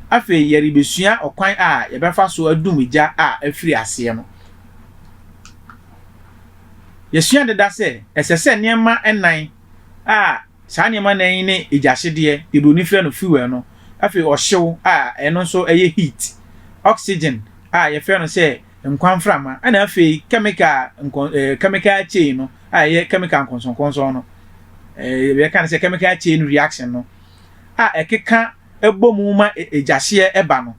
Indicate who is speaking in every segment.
Speaker 1: Afei yɛrebesua ɔkwan a yɛbɛfa so adum gya a afiri aseɛ no. Yɛasua deda sɛ ɛsɛ sɛ nneɛma nnan a. Saa nneɛma nnan yi ne agyahyedeɛ, deɛ buroni frɛ no fuel no, afei ɔhyew a ɛno nso ɛyɛ heat, oxygen a yɛfrɛ no sɛ nkwa mframa, ɛnna afei chemical nkɔ ɛɛ chemical chain no a ɛyɛ chemical nkɔnsɔnkɔnsɔn no, ɛɛ yɛka no sɛ chemical chain reaction no a ɛkeka bɔ mu ma agyahyeɛ ba no.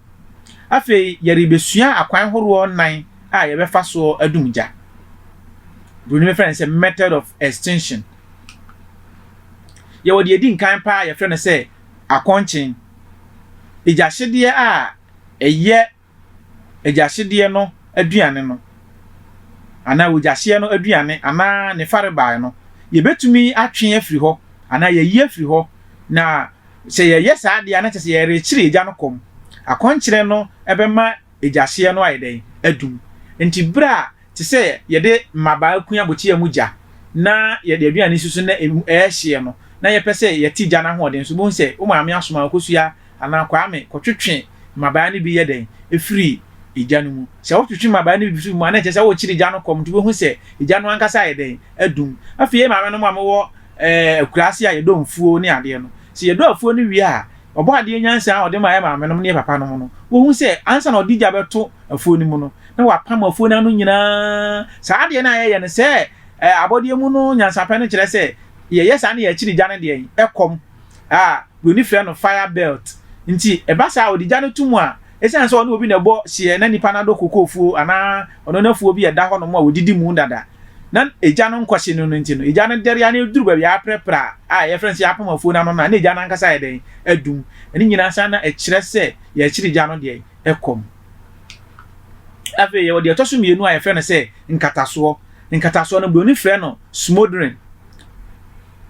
Speaker 1: Afei yɛrebɛsua akwan horoɔ nnan a yɛbɛfa soɔ adum gya. Buroni bɛfrɛ no sɛ method of extinction. Yɛwɔ deɛ ɛdi nkan paa a yɛfrɛ no sɛ akɔnkyen. Agyahyedeɛ a ɛyɛ agyahyedeɛ no aduane no anaa ogyahyeɛ no aduane anaa ne farebae no, yɛbɛtumi atwe afiri hɔ anaa yɛayi afiri hɔ. Na sɛ yɛyɛ saa deɛ a, na kyerɛ sɛ yɛrekyere agya no kɔm. Akɔnkyerɛ no bɛma gya hyeɛ no ayɛ dɛn? Adum. Enti berɛ a te sɛ yɛde mmabaa kua bokyea mu gya na yɛde aduane si so na ɛrehyeɛ no, na yɛpɛ sɛ yɛte gya no ahoɔden so. Wobɛhu sɛ wo maame asoma wo Kosua anaa Kwame kɔtwetwe mmabaa no bi yɛ dɛn? firi gya no mu. Sɛ wotwetwe mmabaa no bi firi mu a, na ɛkyerɛ sɛ worekyere gya no kɔm, nti wobɛhu sɛ gya no ankasa ayɛ dɛn? Adum. Afei yɛn maamenom a mowɔ akuraase a yɛdɔ mfuo ne adeɛ no, sɛ yɛdɔ afuo no wie a, Ɔbɔadeɛ nyansa a ɔde maa yɛn maamenom ne yɛn papanom no, wohu sɛ ansa na ɔde gya bɛto afuo no mu no, na wapam afuo no ano nyinaa. Saa adeɛ no a yɛyɛ no sɛ abɔdeɛ mu no nyansapɛ no kyerɛ sɛ yɛyɛ saa na yɛakyiri gya no deɛ ɛkɔm a Buroni frɛ no fire belt nti. Ɛba saa a, ɔde gya no to mu a, Esiane sɛ ɔne obi na ɛbɔ hyeɛ na nipa no adɔ koko afuo anaa ɔnɔn afuo bi a ɛda hɔnom a wɔdidi mu dada na egya no nkɔhye no no nti no, egya no dɛre ara na ɛduru baabi a aprɛprɛ a yɛfrɛ no sɛ yɛapam afuo no ano no a na egya no ankasa ayɛ dɛn? Adum. Ɛno nyinaa nsa na ɛkyerɛ sɛ yɛrekyere egya no deɛn? Ɛkɔm. Afei yɛwɔ deɛ ɛtɔ so mmienu a yɛfrɛ no sɛ nkatasoɔ. Nkatasoɔ no, Buroni frɛ no smoldering.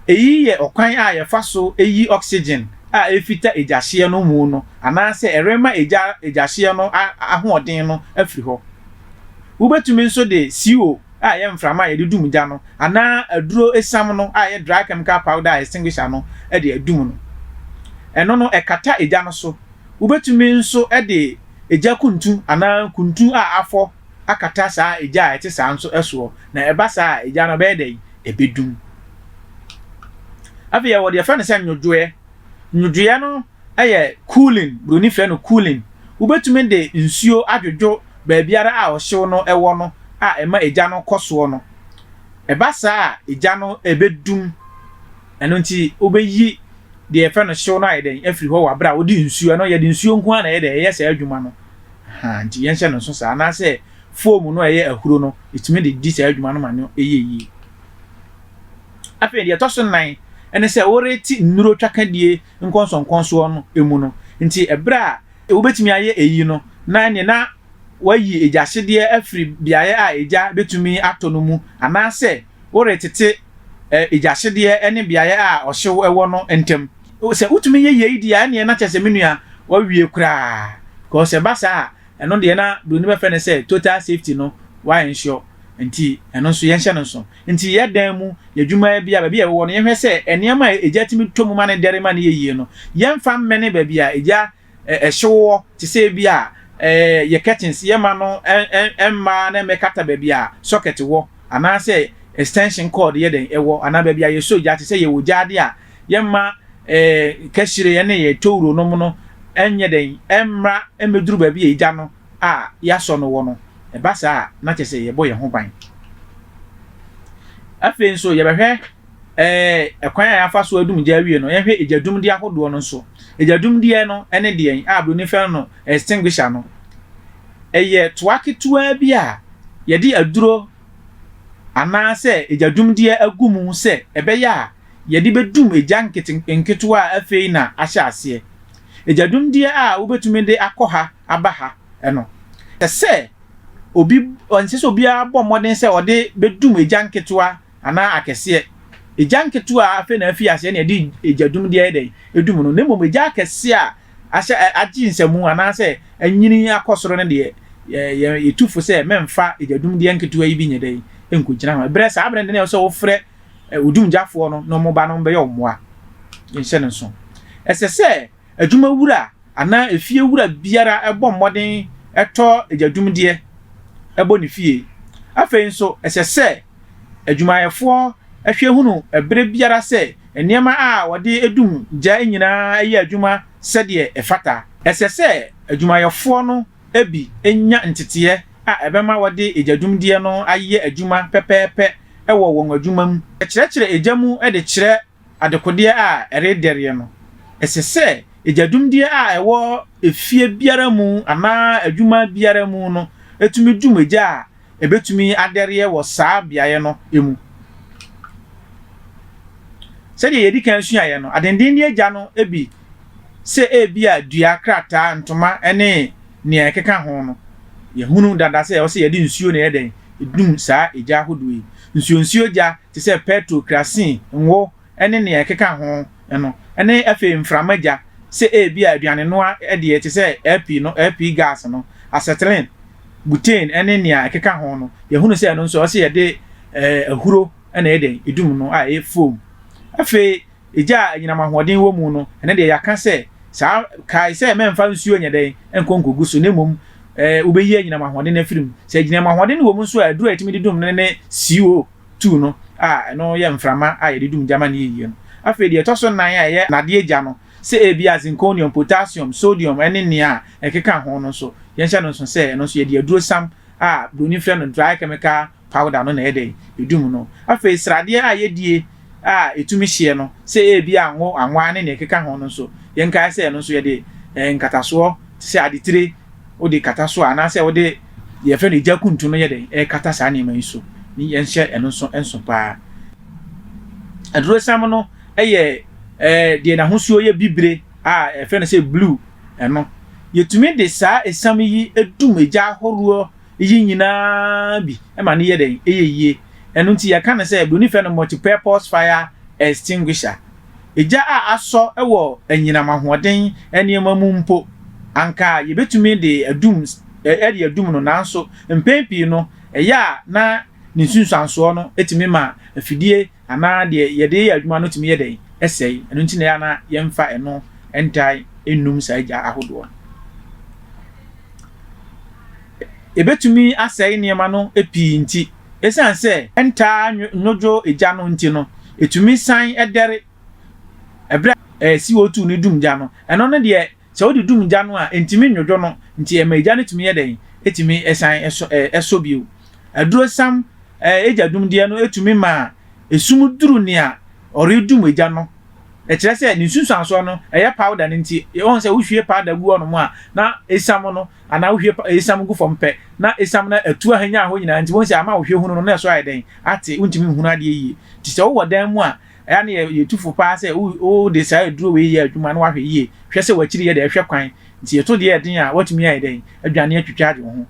Speaker 1: Eyi yɛ ɔkwan a yɛfa so yi oxygen a ɛrefita egyahyeɛ no mu no anaasɛ ɛrema egya egyahyeɛ no ahoɔden no afiri hɔ. Wobɛtumi nso de CO a ɛyɛ mframa a yɛde dum gya no anaa aduro esiam no a ɛyɛ dry chemical powder a extinguisher no de adum no. Ɛno no ɛkata egya no so. Wobɛtumi nso de egya kuntu anaa kuntu a afɔ akata saa egya a ɛte saa nso soɔ na ɛba saa a egya no ɛbɛyɛ dɛn? ɛbɛdum. Afei yɛwɔ deɛ yɛfrɛ no sɛ nnwodwoeɛ. Nnwodwoeɛ no yɛ cooling, buroni frɛ no cooling. Wobɛtumi de nsuo adwodwo baabiara a ɔhyew no wɔ no a ɛma egya no kɔ soɔ no. Ɛba saa a, egya no ɛbɛdum. Ɛno nti wobɛyi deɛ yɛfrɛ no hyew no ayɛ dɛn afiri hɔ wɔ aberɛ a wode nsuo, ɛno yɛde nsuo nko ara na ɛyɛ dɛn, ɛyɛ saa adwuma no. Ahaa, nti yɛnhyɛ no nso saa. Anaasɛ foam no a ɛyɛ ahuro no tumi de di saa adwuma no ma no yɛ yie. Afei deɛ ɛtɔ so nnan ne sɛ worete nnuro twakadie nkɔnsɔnkɔnsɔn no mu no nti berɛ a wobɛtumi ayɛ eyi no na ɛneɛ na wayi egyahyedeɛ afiri beaeɛ a egya bɛtumi atɔ no mu anaasɛ woretete egyahyedeɛ ne beaeɛ a ɔhyew wɔ no ntam. Sɛ wotumi yɛ yei deɛ a ɛneɛ na kyerɛ sɛ me nua wawie koraa because ɛba saa a Ɛno deɛ na broni bɛfrɛ no sɛ total safety no wa ensure nti ɛno nso yɛnhyɛ no nso. Nti yɛ dan mu, yɛ adwuma bia, baabi a yɛwɔ no yɛnhwɛ sɛ nneɛma a egya tumi tɔ mu ma no dɛre ma no yɛ yie no yɛmfa mmɛne baabi a egya hye wowɔ te sɛ ebia yɛ curtains yɛmma no mma na ɛmmɛkata baabi a socket wɔ anaasɛ extension cord yɛ dɛn ɛwɔ anaa baabi a yɛsɔ gya te sɛ yɛwɔ gyaade a yɛmma yɛn kɛhyereɛ ne yɛn towuronom no nyɛ dɛn? Ɛmmra mmɛduru baabi a egya no a yɛasɔ no wɔ no. Ɛba saa a, na kyerɛ sɛ yɛbɔ yɛn ho ban. Afei nso, yɛbɛhwɛ eh, kwan a yɛafa so adum gya awie no, yɛnhwɛ egya dumdeɛ ahodoɔ no nso. Egya dumdeɛ no ne deɛn a Buroni frɛ no extinguisher no. Ɛyɛ toa ketewaa bi a yɛde aduro anaasɛ egya dumdeɛ agu mu sɛ ɛbɛyɛ a yɛde bɛdum egya nkete nketewa a afei na ahyɛ aseɛ, egyadumdeɛ a wobɛtumi de akɔ ha aba ha no, ɛsɛ sɛ obi, ɛnsɛ sɛ obiara bɔ mmɔden sɛ ɔde bɛdum egya nketewa anaa akɛseɛ. Egya nketewa a afei na afi aseɛ na yɛde egyadumdeɛ ayɛ dɛn? Ɛdum no. Na mmom egya akɛseɛ a ahyɛ, agye nsamu anaasɛ anyini akɔ soro no deɛ, yɛ, yɛtu fo sɛ mɛmfa egyadumdeɛ nketewa yi bi nyɛ dɛn? Nkɔgyina ho. Ɛberɛ, saa berɛ no deɛ na ɛwɔ sɛ wofrɛ odumgyafoɔ no ne wɔn ba no bɛyɛ wo mmoa. Yɛnhyɛ no nso. Ɛsɛ sɛ adwumawura anaa efiewura biara bɔ mmɔden tɔ adwadumdeɛ bɔ ne fie. Afei nso, ɛsɛ sɛ adwumayɛfoɔ hwɛ hunu berɛ biara sɛ nneɛma a wɔde dum gya nyinaa yɛ adwuma sɛdeɛ ɛfata. Ɛsɛ sɛ adwumayɛfoɔ no bi nya nteteɛ a ɛbɛma wɔde egyadwumdeɛ no ayɛ adwuma pɛpɛɛpɛ wɔ wɔn adwuma mu. Kyerɛkyerɛ egya mu de kyerɛ adekodeɛ a ɛredɛreɛ no. Ɛsɛ sɛ egyadwumdeɛ a ɛwɔ efie biara mu anaa adwuma biara mu no tumi dwum egya a ɛbɛtumi adɛreɛ wɔ saa beaeɛ no mu. Sɛdeɛ yɛdi kan suaeɛ no, adendenne egya no bi sɛ ebia dua, krataa, ntoma ne nea ɛkeka ho no, yɛahunu dada sɛ ɛwɔ sɛ yɛde nsuo na ɛyɛ dɛn? Ɛdum saa egya ahodoɔ yi. Nsuonsuo gya te sɛ pɛtro, krasin, ngo ne nea ɛkeka ho no, ne afei mframa gya, sɛ ebia aduanenoa deɛ te sɛ LP no, LP gas no, acetylene, butane ne nea ɛkeka ho no, yɛahunu sɛ ɛno nso ɛwɔ sɛ yɛde ahuro na ɛyɛ dɛn? Ɛdum no a ɛyɛ foam. Afei egya a anyinam ahoɔden wɔ mu no, ɛno deɛ yɛaka sɛ saa, kae sɛ mɛmfa nsuo nyɛ dɛn, nkɔ nkɔgu so, na mmom ɛɛ wobɛyi anyinam ahoɔden no afiri mu. Sɛ anyinam ahoɔden no wɔ mu nso a, aduro a yɛtumi de dum no ne CO two no a ɛno yɛ mframa a yɛde dum gya ma no yɛ yie no. Afei deɛ ɛtɔ so nnan a ɛyɛ nnadeɛ gya no, sɛ ebia zinconium, potassium, sodium ne nea ɛkeka ho no nso, yɛnhyɛ no nso sɛ ɛno nso yɛde adurosam a Buroni frɛ no dry chemical Powder no na ɛyɛ dɛn? Edum no. Afei sradeɛ a yɛdie a ɛtumi hyeɛ no, sɛ ebia ngo, anwa ne nea ɛkeka ho no nso, yɛnkae sɛ ɛno nso yɛde eh, nkatasoɔ te sɛ adetire wode kata so a, anaasɛ wode deɛ yɛfrɛ no egya kuntu no yɛ dɛn? Ɛkata saa nneɛma yi so. Ne yɛnhyɛ ɛno nso nso paa. Adurosam no yɛ eh, deɛ n'ahosuo yɛ bibire a ɛfrɛ no sɛ blue ɛno. Yɛtumi de saa esam yi dum egya ahoroɔ Iyi nyina bi ma no yɛ dɛn? Eyɛ yie. Ɛno nti yɛka no sɛ Buroni frɛ no multi-purpose fire extinguisher. Egya a asɔ wɔ anyinam ahoɔden nneɛma mu mpo, anka yɛbɛtumi de adum de adum no nanso mpɛn pii no ɛyɛ a na ne nsunsuansoɔ no tumi ma afidie Anaa deɛ yɛde yɛ adwuma no tumi yɛ dɛn? Ɛsɛe. Ɛno nti na ɛyɛ a na yɛmfa ɛno ntae nnum saa gya ahodoɔ no. Ɛbɛtumi asɛe nneɛma no pii nti, ɛsiane sɛ ɛntaa nnwodwo gya no nti no, ɛtumi san dɛre ɛberɛ a CO2 no dum gya no. Ɛno ne deɛ Sɛ wode dum gya no a, entumi nnwodwo no, nti ɛma egya no tumi yɛ dɛn? Etumi san sɔ ɛ ɛsɔ bio. Adurosiam ɛ egya dumdeɛ no tumi ma esum duru nea ɔredum egya no. Ɛkyerɛ sɛ ne nsunsuansoɔ no, ɛyɛ powder no nti. Woahu sɛ wohwie powder gu hɔnom a, na esiam no, anaa wohwie pa esiam gu fam pɛ, na esiam no atu ahanyan hɔ nyinaa, nti woahu sɛ ama wo hwɛ hunu no, na ɛso ayɛ dɛn? Ate, wontumi nhunu adeɛ yie. Nti sɛ wowɔ dan mu a, Ɛyɛ a na yetu fo paa sɛ, O, o, wode saa aduro wei yɛ adwuma na woahwɛ yie. Hwɛ sɛ w'akyiri yɛ dɛ, hwɛ kwan. Nti yɛto deɛ ɛden a, woatumi ayɛ dɛn? Adwane atwitwage wo ho.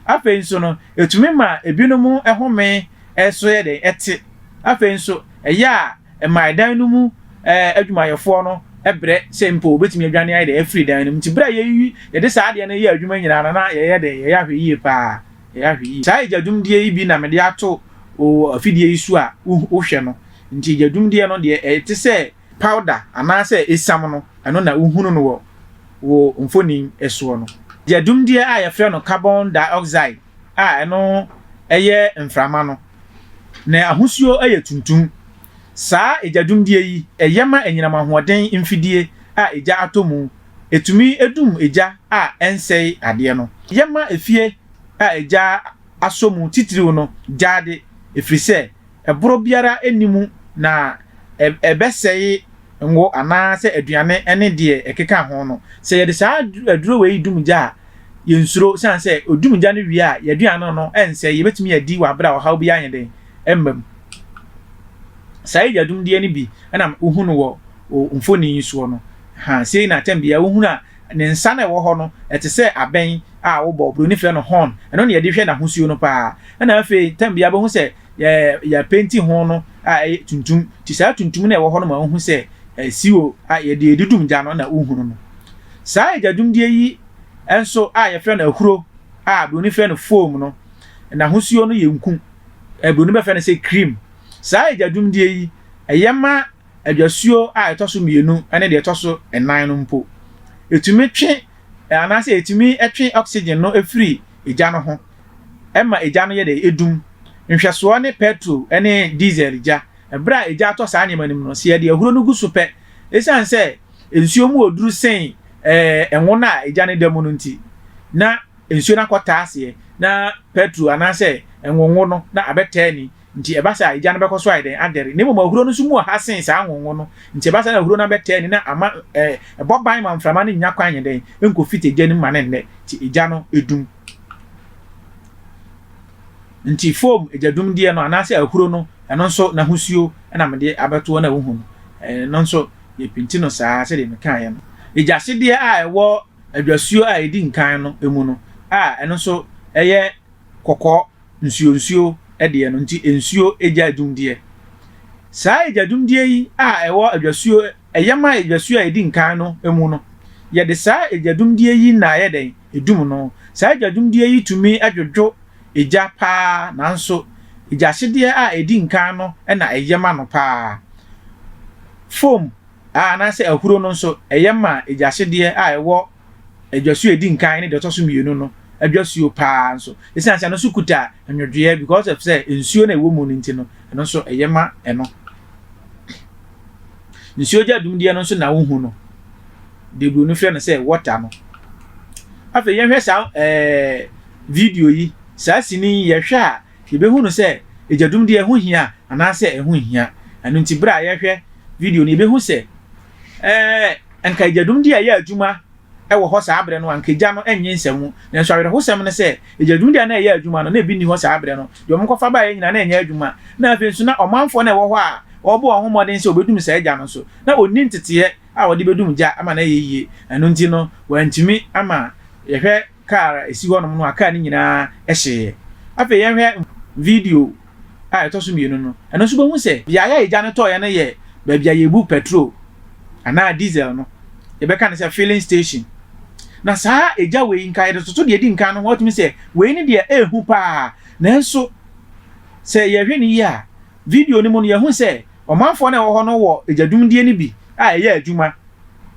Speaker 1: Afei nso no, ɛtumi ma ebinom home so yɛ dɛn? Ɛte. Afei nso, ɛyɛ a ɛma ɛdan no mu adwumayɛfoɔ no brɛ sɛ mpo wɔbɛtumi adwane ayɛ dɛn? Afiri dan no mu. Nti berɛ a yɛyi, yɛde saa adeɛ no yɛ adwuma nyinaa no, na yɛyɛ dɛn? Yɛyɛ ahwɛyie paa. Ɛyɛ ahwɛ yie. Saa egya dwumdie yi bi na mede ato wo wɔ afidie yi so a wohwɛ no. Nti egya dwumdie no deɛ ɛte sɛ powder anaasɛ esiam no, ɛno na wohunu no wɔ wo mfoni soɔ no. Egya dwumdie a yɛfrɛ no carbon dioxide a ɛno yɛ mframa no, ne ahosuo yɛ tuntum. Saa egya dwumdie yi, ɛyɛ ma anyinam ahoɔden mfidie a egya atɔ mu ɛtumi dum egya a ɛnsɛe adeɛ no. Yɛma efie a egya asɔ mu titiriw no gyaade ɛfiri sɛ ɛborɔ biara nni mu na ɛbɛsɛe ngo anaa sɛ aduane ne deɛ ɛkeka ho no. Sɛ yɛde saa aduro wei dum gya a, yɛnsuro ɛsiane sɛ ɔdum gya no wie a, yɛn aduane no rensɛe, yɛbɛtumi adi wɔ berɛ a ɔhaw biara nyɛ dɛn mma mu. Saa egya dumdeɛ no bi na wohunu wɔ mfonin yi soɔ no. Ha, sei na atɛm bea. Wohunu a, ne nsa no a ɛwɔ hɔ no, ɛte sɛ abɛn a wobɔ. Buroni frɛ no horn. Ɛno na yɛde hwɛ n'ahosuo no paa. Ɛna afei, tɛm bea, wobɛhu sɛ yɛapenti ho no a ɛyɛ tuntum. Nti saa tuntum no a ɛwɔ hɔ no ma wohu sɛ siwo a yɛde redudum gya no na wohunu no. Saa egya-dumdie yi nso a yɛfrɛ no ahuro a buroni frɛ no foam no, n'ahosuo no yɛ nku. Buroni bɛfrɛ no sɛ cream. Saa egya-dumdie yi, ɛyɛ ma Adwasuo a ɛtɔ so mmienu ne deɛ ɛtɔ so nnan no mpo, ɛtumi twe anaasɛ ɛtumi twe oxygen no firi egya no ho ma egya no yɛ dɛ, ɛdum. Nhwɛsoɔ ne pɛtro ne diesel gya. Berɛ a egya tɔ saa nneɛma no mu no, sɛ yɛde ahuro no gu so pɛ, ɛsiane sɛ nsuo mu oduru sen ngo no a egya no da mu no nti, na nsuo no akɔtaa aseɛ na pɛtro anaasɛ ngo ngo no na abɛtaa ani. Nti ɛba saa a, egya no bɛkɔ so ayɛ dɛn? Adɛre. Na mmom ahuro no nso mu wɔ ha sen saa ahonho no. Nti ɛba saa na ahuro no abɛtaa ani na ama ɛ, ɛbɔ ban ma mframa no nnya kwan nyɛ dɛn? Enkofit egya no mu ma no nnɛ. Nti egya no dum. Nti foam egyadumdeɛ no, anaasɛ ahuro no, ɛno nso n'ahosuo na mede abɛto hɔ no a wohu no. Ɛno nso, yɛpenti no saa ara sɛdeɛ mekaeɛ no. Egyasedeɛ a ɛwɔ adwasuo a ɛdi nkan no mu no a ɛno nso yɛ kɔkɔɔ. nsuo nsuo deɛ no nti nsuo egya adwumdeɛ. Saa egya dwumdeɛ yi a ɛwɔ adwasuo ɛyam a adwasuo a ɛdi nkan no mu no, yɛde saa egya dwumdeɛ yi na ayɛ dɛn? Edum no. Saa egya dwumdeɛ yi tumi dwodwo egya paa nanso egya hyedeɛ a ɛdi nkan no na ɛyɛ ma no paa. Foam anaasɛ ahuro no nso ɛyɛ ma egya hyedeɛ a ɛwɔ dwasuo a ɛdi nkan ne deɛ ɔtɔ so mmienu no dwasuo paa nso. Ɛsiane sɛ ɛno nso kuta nnwodwoeɛ because of sɛ nsuo no a ɛwɔ mu no nti no, ɛno nso ɛyɛ ma ɛno. Nsuo gya dumdeɛ no nso na wohu no. Debro no frɛ no sɛ water no. Afei yɛhwɛ saa ɛɛ video yi, saa sini yi yɛhwɛ a yɛbɛhu no sɛ ɛgya dumdeɛ ɛho hia anaasɛ ɛho hia. Ɛno nti berɛ a yɛhwɛ video no yɛbɛhu sɛ Ɛɛ, anka agyanom de reyɛ adwuma wɔ hɔ saa bere no, anka gya no nnye nsa mu. Nanso awerɛhosɛm ne sɛ, agyanom de a na ɛreyɛ adwuma no, na ebi nni hɔ saa bere no. Deɛ wɔkɔfa baeɛ nyinaa, na ɛnyɛ adwuma. Na afei nso, na ɔmanfoɔ no a wɔwɔ hɔ a wɔrebɔ wɔn ho mmɔden sɛ wɔbɛdum saa gya no nso, na wɔnni nteteeɛ a wɔde bɛdum gya ama no ayɛ yie. Ɛno nti no, wɔantumi ama yɛhwɛ. kar a esi hɔnom no a kar no nyinaa hyeeɛ. Afei yɛnhwɛ video a ɛtɔ so mmienu no. Ɛno nso wobɛhu sɛ beaeɛ a egya no tɔeɛ no yɛ baabi a yɛbu petrol anaa diesel no, yɛbɛka no sɛ filling station. Na saa egya wei, nka yɛde toto deɛ edi nkan no ho a, wotumi sɛ wei ne deɛ ɛyɛ hu paa. Nanso sɛ yɛhwɛ no yie a, Video no mu no, yɛahu sɛ ɔmanfoɔ no a wɔwɔ hɔ no wɔ agyadumdie no bi a ɛyɛ adwuma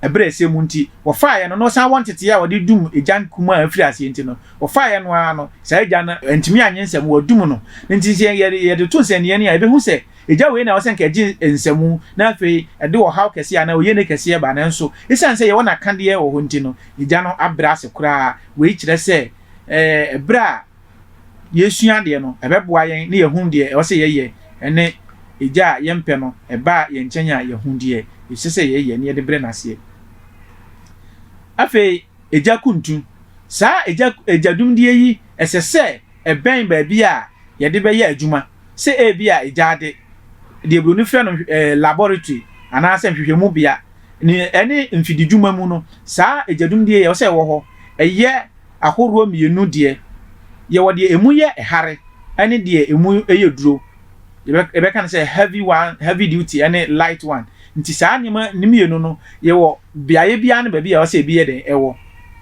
Speaker 1: ɛberɛ a ɛsɛ mu nti wɔfaeɛ no na ɔsan wɔ nteteeɛ a wɔde dum egya kumaa a ɛfiri aseɛ nti no wɔfaeɛ no ara no saa egya no antumi annye nsɛm wɔadum no no nti sɛ yɛde yɛde to nsɛnniiɛ no a yɛbɛhu sɛ egya wei na ɛwɔ sɛ nka ɛgye nsɛmu na afei ɛde ɔhaw kɛseɛ anaa oyiene kɛseɛ ba nanso ɛsiane sɛ yɛwɔ n'akadeɛ wɔ hɔ nti no egya no abrɛ ase koraa wei kyerɛ sɛ ɛɛ ɛberɛ a yɛresua adeɛ no, ɛbɛboa yɛn na yɛahunu deɛ ɛwɔ sɛ yɛyɛ ne Agya a yɛmpɛ no ba yɛn nkyɛn a, yɛahunu deɛ ɛsɛ sɛ yɛyɛ na yɛde brɛ no aseɛ. Afei, Agya Kuntu. Saa agya, agya dwumdie yi, ɛsɛ sɛ ɛbɛn baabi a yɛde bɛyɛ adwuma. Sɛ ebi a egyaade, deɛ Buroni frɛ no eh, laboratory, anaasɛ nhwehwɛmu bea, ne ɛne mfididwuma mu no, saa agya dwumdie yi ɛwɔ sɛ ɛwɔ hɔ. Ɛyɛ ahoroɔ mmienu deɛ, yɛwɔ deɛ ɛmu yɛ hare ne deɛ ɛmu yɛ duro. Yɛbɛka no sɛ heavy one, heavy duty ne light one. Nti saa nneɛma no mmienu no, yɛwɔ beaeɛ biara ne baabi a ɛwɔ sɛ ɛbi yɛ dɛn ɛwɔ.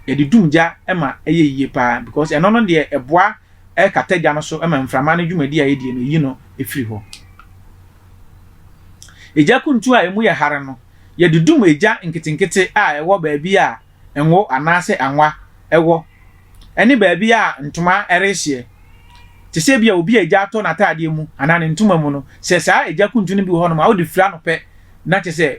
Speaker 1: Yɛde dum gya ma ɛyɛ yie pa ara because ɛno no deɛ ɛboa kata gya no so ma mframa no dwumadie a ɛdie no ɛyi no firi hɔ. Egya kuntu a ɛmu yɛ hare no, yɛde dum egya nketenkete a ɛwɔ baabi a ngo anaasɛ anwa wɔ, ɛne baabi a ntoma rehyeɛ, te sɛ ebia obi a egya atɔ n'ataadeɛ mu anaa ne ntoma mu no, sɛ saa egya kuntun no bi wɔ hɔnom a, wode firi anɔpɛ na kyerɛ sɛ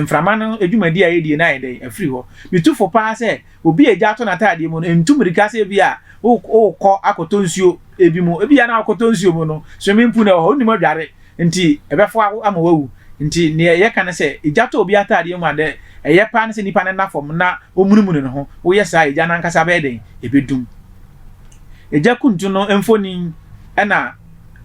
Speaker 1: mframa no dwumadi a ɛyɛ die no ayɛ dɛn? Afiri hɔ. Metu fo paa sɛ obi a egya atɔ n'ataadeɛ mu no ntu mmirika sɛ ebia worekɔ akɔtɔ nsuo bi mu, ebia na wokɔtɔ nsuo mu no, swimming pool no wɔ hɔ, wonnim adware. nti ɛbɛfoa wo ama woawu. Nti nea yɛka ne sɛ, egya tɔ obi ataadeɛ mu a, dɛ ɛyɛ paa ne sɛ nipa no nna fam na omunumunu ne ho. Woyɛ saa a, egya no ankasa bɛyɛ dɛn? Ebedum. Egya kuntu no mfonin na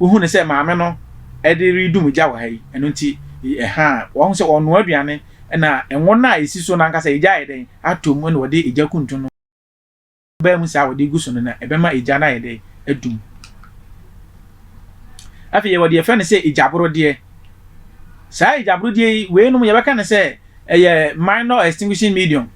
Speaker 1: wohu no sɛ maame no de redum egya wɔ ha yi. Ɛno nti, ɛhaa. Wahu sɛ ɔrenoa aduane na ngo no a esi so no ankasa egya ayɛ dɛn? Atɔ mu na ɔde egya kuntu no. baa mu saa a wɔde gu so no na ɛbɛma egya no ayɛ dɛ adum. Afei yɛwɔ deɛ yɛfrɛ no sɛ egyaborodeɛ. Saa egyaborodeɛ yi, weinom yɛbɛka no sɛ ɛyɛ minor extinguishing medium.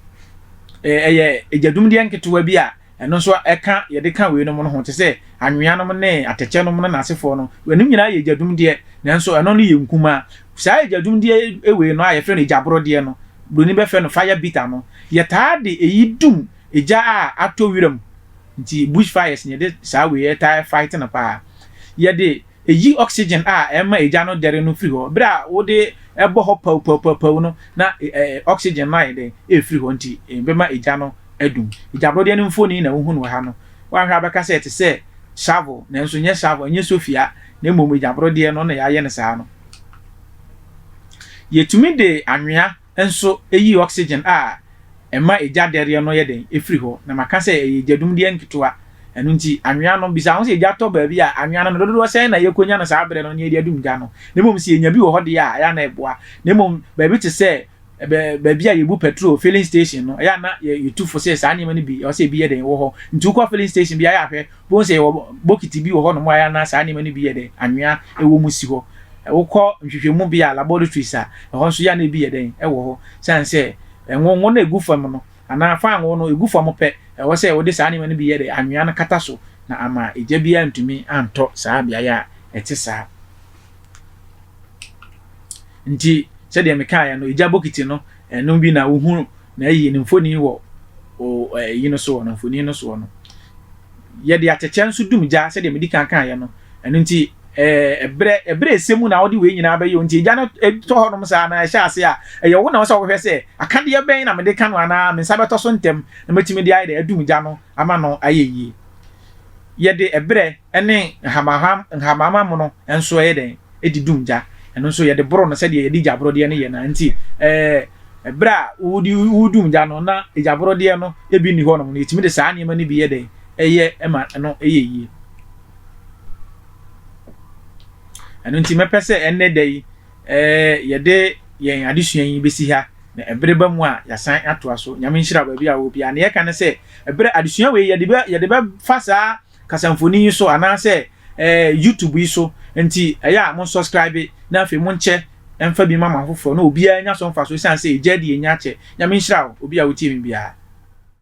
Speaker 1: Ɛyɛ egyadumdeɛ nketewa bi a ɛno nso ɛka yɛde ka weinom no ho te sɛ anweanom ne atɛkyɛ nom no n'asefoɔ no. Ɛnom nyinaa yɛ egyadumdeɛ nanso ɛno no yɛ nkumaa. Saa egyadumdeɛ wei no a yɛfrɛ no egyaborodeɛ no, buroni bɛfrɛ no fire beater no, yɛtaa de eyi dum Egya a atɔ wira mu nti bush fires na yɛde saa wei ɛtaa fight no paa. Yɛde eyi oxygen a ɛma egya no dɛre no firi hɔ. Bere a wode ɛbɔ hɔ pawpawpawpaw no na oxygen no ayɛ dɛn? Ɛrefiri hɔ nti ɛbɛma egya no adum. Egyabrodeɛ no mfoni na wohu no wɔ ha no. Woanhwɛ a wobɛka sɛ ɛte sɛ shovel nanso ɛnyɛ shovel, ɛnyɛ sofia na mmom egyabrodeɛ no na yɛayɛ no saa no. Yɛtumi de anwea nso yi oxygen a ɛma egya dɛreɛ no yɛ dɛn firi hɔ, na maka sɛ ɛyɛ egyadumdeɛ nketewa. Ɛno nti, anwea no, bisa wo ho sɛ egya tɔ baabi a, anwea no, dodoɔ sɛn na yɛkɔnya no saa berɛ no na yɛde adum gya no? Na mmom sɛ yɛnya bi wɔ hɔ deɛ a, ɛyɛ a na ɛboa. Na mmom baabi te sɛ baabi a yɛbu pɛtrol, filling station, no, ɛyɛ a na yɛtu fo sɛ saa nneɛma no bi, ɛwɔ sɛ ebi yɛ dɛn, wɔ hɔ. Nti wokɔ filling station bi a, ɛyɛ a hwɛ, Wobɛhu sɛ yɛwɔ bokiti bi wɔ hɔnom a ɛyɛ a na saa nneɛma no bi yɛ dɛ, anwea wɔ mu si hɔ. Wokɔ nhwehwɛmubea, laboratories, a, ɛhɔ nso yɛ a na ebi yɛ dɛn? Ɛwɔ hɔ. Esiane sɛ ngo ngo no gu fam no, anaa fangoo no gu fam pɛ, ɛwɔ sɛ wode saa nneɛma no bi yɛ dɛ, anwea no kata so na ama egya biara antumi antɔ saa beae a ɛte saa. Enti, sɛdeɛ mekaeɛ no, egya bokiti no Ɛno bi na wohu na ayi ne mfoni wɔ o ɛɛ yi no soɔ no, mfoni no soɔ no. Yɛde atɛkyɛ nso dum gya sɛdeɛ medi kan kaeɛ no. Ɛno nti ɛɛ berɛ ɛberɛ ɛsɛ mu na wode wei nyinaa bɛyɛ o. Nti egya no tɔ hɔnom saa na ɛhyɛ aseɛ a, ɛyɛ wo na ɛwɔ sɛ wohwɛ sɛ akadeɛ bɛn na mede ka no anaa me nsa bɛtɔ so ntɛm na matumi de ayɛ dɛ adum gya no ama no ayɛ yie. Yɛde ɛberɛ. ne nhamamma mono nso yɛ dɛn? Ɛdi dum gya. Ɛno nso, yɛde boro no sɛdeɛ yɛde gyaborodeɛ no yɛ no ara nti, berɛ a woredum gya no na gyaborodeɛ no bi nni hɔnom no, yɛtumi de saa nneɛma no bi yɛ dɛn? Yɛ ma ɛno yɛ yie. Ɛno nti, mɛpɛ sɛ ɛnnɛ da yi yɛde yɛn adesua yi bɛsi ha, na ɛbere ba mu a yɛasan atoa so. Nyame nhyira baabi a wɔ biara. Nea yɛka ne sɛ, berɛ adesua wei yɛde bɛfa saa kasamfoni yi so anaasɛ ɛɛ YouTube yi so nti ɛyɛ a monsɔskraibe na afei monkyɛ mfa bi mma mo afoforɔ na obiara nya so mfasoɔ ɛsiane sɛ ɛgya di ɛnya kyɛ. Nyame nhyira wo obi a wotie me biara.